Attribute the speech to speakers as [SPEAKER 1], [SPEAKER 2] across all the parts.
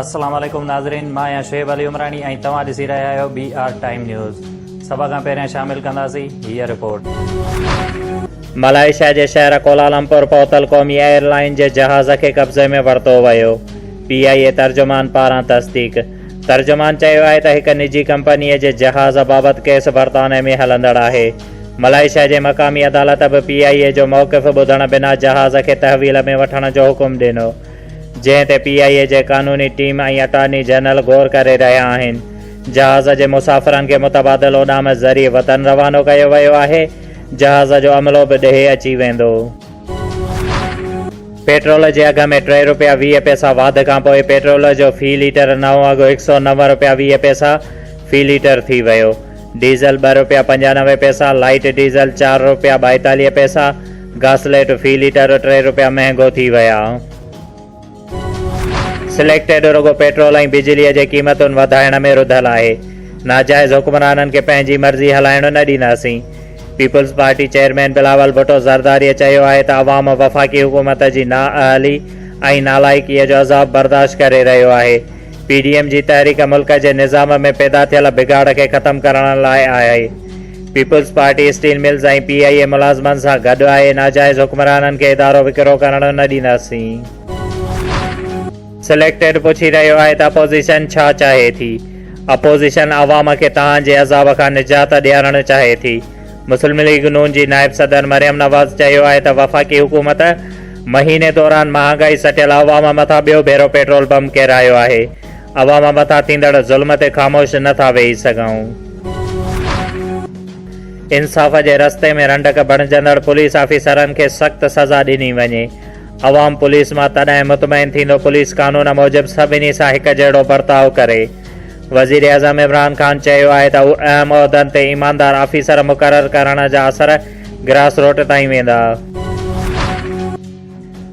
[SPEAKER 1] السلام عليڪم ناظرين مان آهيان شعيب علي عمراڻي ۽ توهان ڏسي رهيا آهيو بي آر ٽائيم نيوز سڀ کان پهريان شامل ڪنداسين هي رپورٽ ملائيشيا جي شهر ڪولالمپور پهتل قومي ايئر لائين جي جهاز کي قبضي ۾ ورتو ويو پي آء اي ترجمان پاران تصديق ترجمان چيو آهي ته هڪ نجي ڪمپنيء جي جهاز بابت ڪيس برطانيه ۾ هلندڙ آهي. ملائيشيا جي مقامي عدالت به پي آء اي جو موقف ٻڌڻ بنا جهاز کي تحويل ۾ وٺڻ جو حڪم ڏنو، جنهن تي پي آء اي جي قانوني ٽيم ۽ اٽارني جنرل غور ڪري رهيا آهن. جهاز جي مسافرن کي متبادل اڏام ذريعي وطن روانو ڪيو ويو آهي. جهاز جو عملو به ڊهي اچي ويندو. پيٽرول جي اگهه ۾ ٽي رپيا ويهه پئسا واڌ کانپوء پيٽرول جو في ليٽر نئون اگهه هڪ سؤ نو رپيا ويهه پئسا في ليٽر ٿي ويو. ڊيزل ٻه رپيا پنجانوي پئسا، لائيٽ ڊيزل چار رپيا ٻائيتاليهه پئسا، گاسليٽ في ليٽر ٽي رپيا مهنگو ٿي ويا. سليڪٽيڊ رڳو پيٽرول ۽ بجلي جي قيمتن وڌائڻ ۾ رڌل آهي، ناجائز حڪمرانن کي پنهنجي مرضي هلائڻ نه ڏينداسين، پيپلز پارٽي چيئرمين بلاول ڀٽو زرداريء چيو آهي ته عوام وفاقي حڪومت جي نااهلي ۽ نالائقيء جو عذاب برداشت ڪري رهيو آهي، پي ڊي ايم جي تحريڪ ملڪ جي نظام ۾ پيدا ٿيل بگاڙ کي ختم ڪرڻ لاء آهي، People's Party steel mills ۽ P I A ملازمن سان گڏ آهي، ناجائز حڪمرانن کي ادارو وڪرو ڪرڻ نه ڏينداسين. سليڪٽيڊ پڇي رهيو آهي ته اپوزيشن ڇا چاهي ٿي؟ اپوزيشن عوام کي تهان جي عذاب کان نجات ڏيارڻ چاهي ٿي، مسلم ليگ نون جي نائب صدر مريم نواز چيو آهي ته وفاقي حڪومت مهيني دوران مهانگائي سٽيل عوام مٿان ٻيو ڀيرو پيٽرول بم ڪيرايو آهي، عوام مٿان ٿيندڙ ظلم تي خاموش نه ٿا ويهي سگهون. انصاف جي رستي ۾ رنڊڪ بڻجندڙ پوليس آفيسرن کي سخت سزا ڏني وڃي، عوام پوليس مان تڏهن مطمئن ٿيندو پوليس قانون موجب سڀني سان هڪجهڙو برتاء ڪري. وزيراعظم عمران خان چيو آهي ته هو اهم عهدن تي ايماندار آفيسر مقرر ڪرڻ جا اثر گراس روٽ تائين ويندا.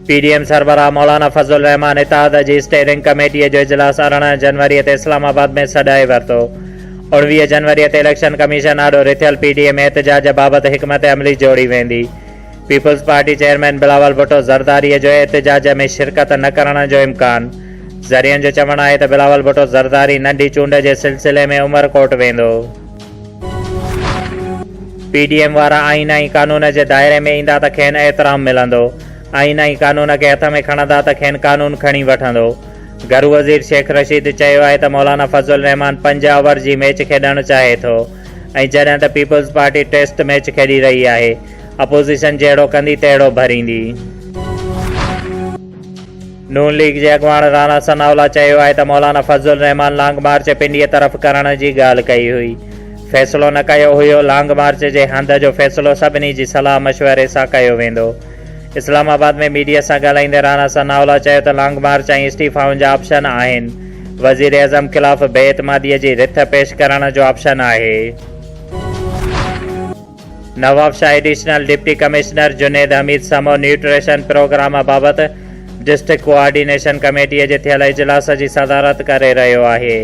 [SPEAKER 1] پي ڊي ايم سربراهه مولانا فضل الرحمان اتحاد جي اسٽيئرنگ ڪميٽي جو اجلاس ارڙهن جنوري تي اسلام آباد ۾ سڏائي ورتو. اوڻويهه جنوري تي اليڪشن ڪميشن آڏو رٿيل پي ڊي ايم احتجاج بابت حڪمت عملي جوڙي ويندي. پيپلز پارٽي چيئرمين بلاول ڀٽو زرداري جو احتجاج ۾ شرڪت نه ڪرڻ جو امڪان، ذريعن جو چوڻ آهي ته بلاول ڀٽو زرداري ننڍي چونڊ جي سلسلي ۾ عمرڪوٽ ويندو. پي ڊي ايم وارا آئين ۽ قانون جي دائري ۾ ايندا ته کين احترام ملندو، آئين ۽ قانون کي هٿ ۾ کڻندا ته کين قانون کڻي وٺندو. گهرو وزير شيخ رشيد چيو آهي ته مولانا فضل الرحمان پنج آور جي ميچ کيڏڻ چاهي ٿو ۽ جڏهن ته پيپلز پارٽي ٽيسٽ ميچ کيڏي رهي آهي، اپوزيشن جهڙو ڪندي تهڙو ڀريندي. نون ليگ جي اڳواڻ رانا ثناء الله چيو آهي ته مولانا فضل الرحمان لانگ مارچ پنڊيء طرف ڪرڻ جي ڳالهه ڪئي هئي، فيصلو نه ڪيو هيو، لانگ مارچ جي هنڌ جو فيصلو سڀني جي صلاح مشوري سان ڪيو ويندو. اسلام آباد ۾ ميڊيا سان ڳالهائيندي رانا ثناء الله چيو ته لانگ مارچ ۽ استعيفائن جا آپشن آهن، وزيراعظم خلاف بي اعتماديء جي رٿ پيش ڪرڻ جو آپشن آهي. Nawabshah additional deputy commissioner Junaid Hamid Samo nutrition programme بابت ڊسٽرڪٽ ڪوآرڊينيشن ڪميٽي جي ٿيل اجلاس جي صدارت ڪري رهيو آهي.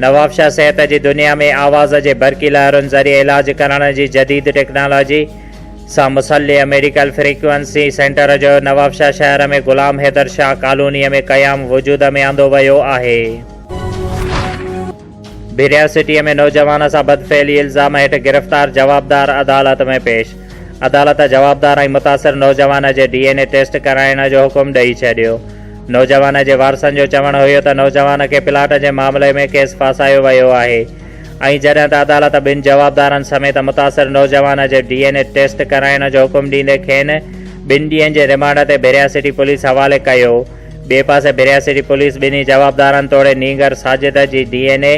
[SPEAKER 1] نوابشاهه صحت جي دنيا ۾ آواز جي برقي لهرن ذريعي علاج ڪرڻ جي جديد ٽيڪنالاجي سان مسلح ميڊيڪل فريڪوئنسي سينٽر جو نوابشاهه شهر ۾ غلام حيدر شاهه ڪالونيء ۾ قيام وجود ۾ آندو ويو آهي. بحريا سٽيء ۾ نوجوان سان بدفعلي الزام هيٺ گرفتار جوابدار عدالت ۾ پيش، عدالت جوابدار ۽ متاثر نوجوان جي ڊي اين اي ٽيسٽ ڪرائڻ جو حڪم ڏئي ڇڏيو، نوجوان جي وارثن جو چوڻ هيو ته نوجوان کي پلاٽ جي معاملي ۾ ڪيس ڦاسايو ويو آهي ۽ جڏهن ته عدالت ٻن جوابدارن سميت متاثر نوجوان جي ڊي اين اي ٽيسٽ ڪرائڻ جو حڪم ڏيندي کين ٻن ڏينهن جي رمانڊ تي بحريا سٽي پوليس حوالي ڪيو. ٻئي پاسي بريا سٽي پوليس ٻنهي جوابدارن توڙي نينگر ساجد جي ڊي اين اي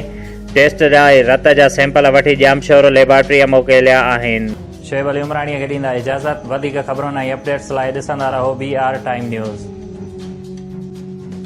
[SPEAKER 1] ٽيسٽ لاء رت جا سيمپل وٺي ڄامشورو ليبارٽريء موڪليا آهن. شعيب علي عمراڻيء کي ڏيندا اجازت. وڌيڪ خبرن ۽ اپڊيٽس لاء ڏسندا رهو بي آر ٽائيم نيوز.